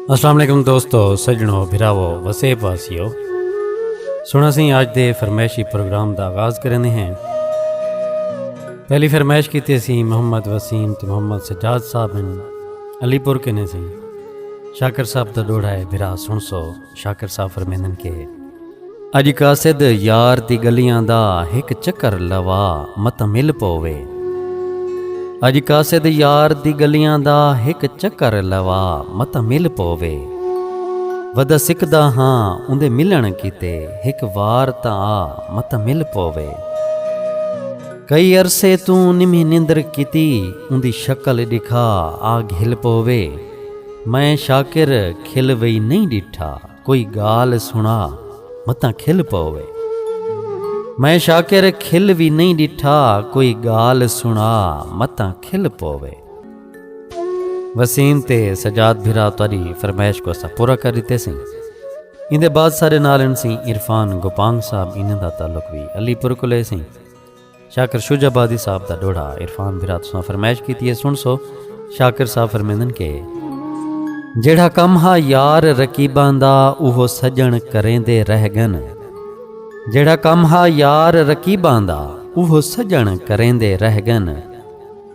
السلام علیکم دوستو سجنو بھراو وسے پاسیو سنا سی اج دے فرمائشی پروگرام دا آغاز کرنے ہیں پہلی فرمائش کی تے سی محمد وسیم تے محمد سجاد صاحب ہیں علی پور کنے سی شاکر صاحب دا ڈوڑا ہے بھرا سن سو شاکر صاحب فرمیندن کے اج قاصد یار دی گلیاں دا ہک چکر لوا مت مل پوے اج قاصد یار دی گلیاں دا ہک چکر لوا مت مل پوے ودا سکدا ہاں اوندے ملن کیتے ہک وار تا آ مت مل پوے کئی عرصے توں نمی نندر کیتی اوندی شکل دکھا آ گھل پوے میں شاکر کھل وئی نئیں ڈٹھا کوئی گال سنا متاں کھل پووے۔ میں شاکر کھل وی نئیں ڈٹھا کوئی گال سنا متاں کھل پووے۔ وسیم تے سجاد بھرا تہاڈی فرمائش کوں اساں پورا کر ڈتے سیں۔ ایندے بعد ساڈے نال ہن سیں عرفان گوپانگ صاحب انہاں دا تعلق وی علی پور کولے سیں۔ شاکر شجاع آبادی صاحب دا ڈوہڑا عرفان بھرا تساں فرمائش کیتی ہے سن سو شاکر صاحب فرمیندن کے جیڑھا کم ہا یار رکیبان دا اوہو سجن کریں دے رہ گن جیڑھا کم ہا یار رکیبان دا اوہو سجن کریں دے رہ گن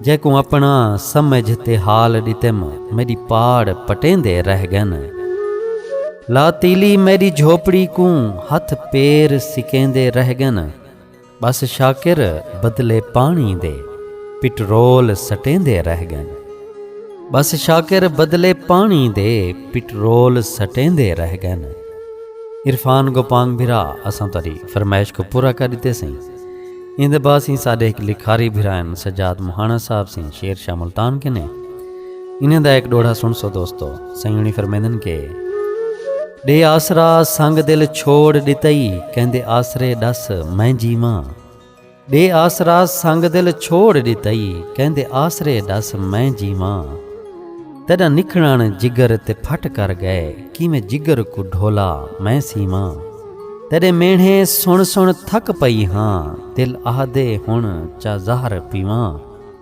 جے کو اپنا سمجھ تے حال ڈتم میری پاڑ پٹیں دے رہ گن لا تیلی میری جھوپڑی کوں ہتھ پیر سکیں دے رہ گن ٻس شاکر بدلے پاݨی دے پٹرول سٹیندے رہ ڳن ٻس شاکر بدلے پاݨی دے پٹرول سٹیندے رہ ڳن عرفان گوپانگ بھرا اساں تہاݙی فرمائش کوں پورا کر ݙتے سئیں ایندے بعد سئیں ساݙے ہک لکھاری بھرا ہن سجاد مہاݨا صاحب سئیں شعر شاہ ملتان کنے انہاں دا ہک ݙوہڑا سݨسو دوستو، سئیں ہوݨی فرمیندن کہ۔ ݙے آسرا سنگ دل چھوڑ ݙتئی کیندے آسرے ݙس میں جیواں ݙے آسرا سنگ دل چھوڑ ݙتئی کیندے آسرے ݙس میں جیواں تیݙا نکھڑݨ جگر تے پھٹ کر ڳئے کیویں جگر کوں ڈھولا میں سیواں تیݙے مینہڑے سݨ سݨ تھک پئی ہاں دل آہدے ہݨ چا زہر پیواں۔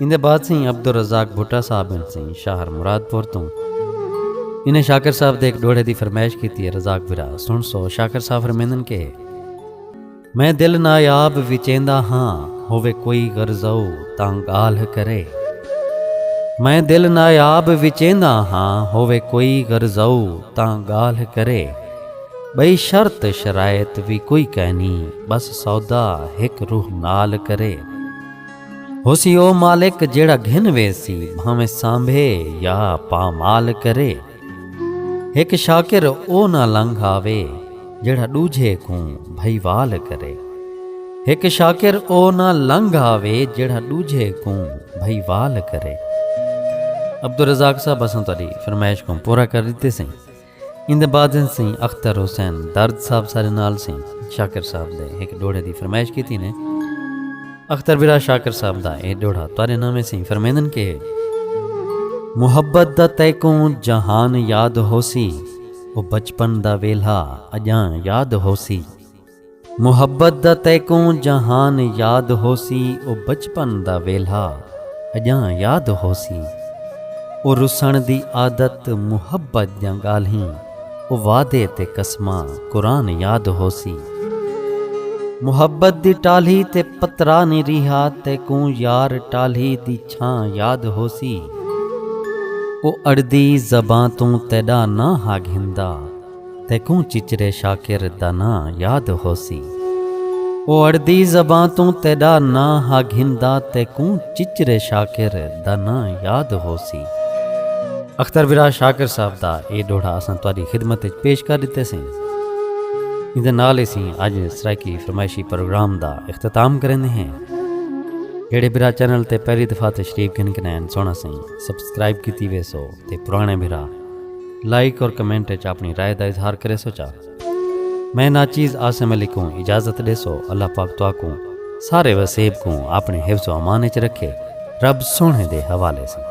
ایندے بعد سئیں عبدالرزاق بھٹہ صاحب ہن سئیں شاہر مراد پور توں انہیں شاکر صاحب دے ایک ڈوہڑے دی فرمائش کیتی ہے رزاق برا سن سو شاکر صاحب فرمیندن کہ میں دل نایاب وچیندا ہاں ہوے کوئی غرضو تاں گالھ کرے میں دل نایاب وچیندا ہاں ہوے کوئی غرضو تاں گالھ کرے بئی شرط شرائط وی کوئی کہنی بس سودا ہک روح نال کرے ہوسی او مالک جیڑھا گھن ویسی بھانویں سانبھے یا پامال کرے۔ ہک شاکر او نہ لنگھ آوے جیڑھا ڈوجھے کوں بھئیوال کرے۔ ہک شاکر او نہ لنگھ آوے جیڑھا ڈوجھے کوں بھئیوال کرے۔ عبدالرزاق صاحب اساں تہاڈی فرمائش کوں پورا کر ڈتے سئیں۔ ایندے بعد سئیں اختر حسین درد صاحب سارے نال سئیں شاکر صاحب دے ہک ڈوہڑے دی فرمائش کیتی نے۔ اختر برا شاکر صاحب دا اے ڈوہڑا تہاڈے ناویں سئیں فرمیندن کہ۔ محبت دا تیکوں جہان یاد ہوسی او بچپن دا ویلھا اجاں یاد ہوسی۔ محبت دا تیکوں جہان یاد ہوسی او بچپن دا ویلھا اڄاں یاد ہوسی او رسݨ دی عادت محبت دیاں ڳالھیں او وعدے تے قسماں قرآن یاد ہوسی محبت دی ٹالھی تے پترا نی ریہا تیکوں یار ٹالھی دی چھاں یاد ہوسی او اڑدی زباں توں تیݙا ناں ہا گھندا تیکوں چچرے شاکر دا ناں یاد ہوسی۔ او اڑدی زباں توں تیڈا ناں ہا گھندا تیکوں چچرے شاکر دا ناں یاد ہوسی۔ اختر ورا شاکر صاحب دا اے ڈوہڑا اساں تہاڈی خدمت اچ پیش کر ڈتے سئیں۔ ایندے نال اسیں اج سرائیکی فرمائشی پروگرام دا اختتام کریندے ہیں۔ جیڈے برا چینل تے پہلی دفعہ تشریف گھن گھنائن سوہنا سئیں سبسکرائب کیتی ویسو۔ تے پرانے بھرا لائک اور کمنٹ اچ اپنی رائے دا اظہار کریسو چا میں ناچیز عاصم علی کوں اجازت ڈیسو اللہ پاک تواکوں سارے وسیب کوں اپنے حفظ و امان اچ رکھے رب سوہنے دے حوالے سن۔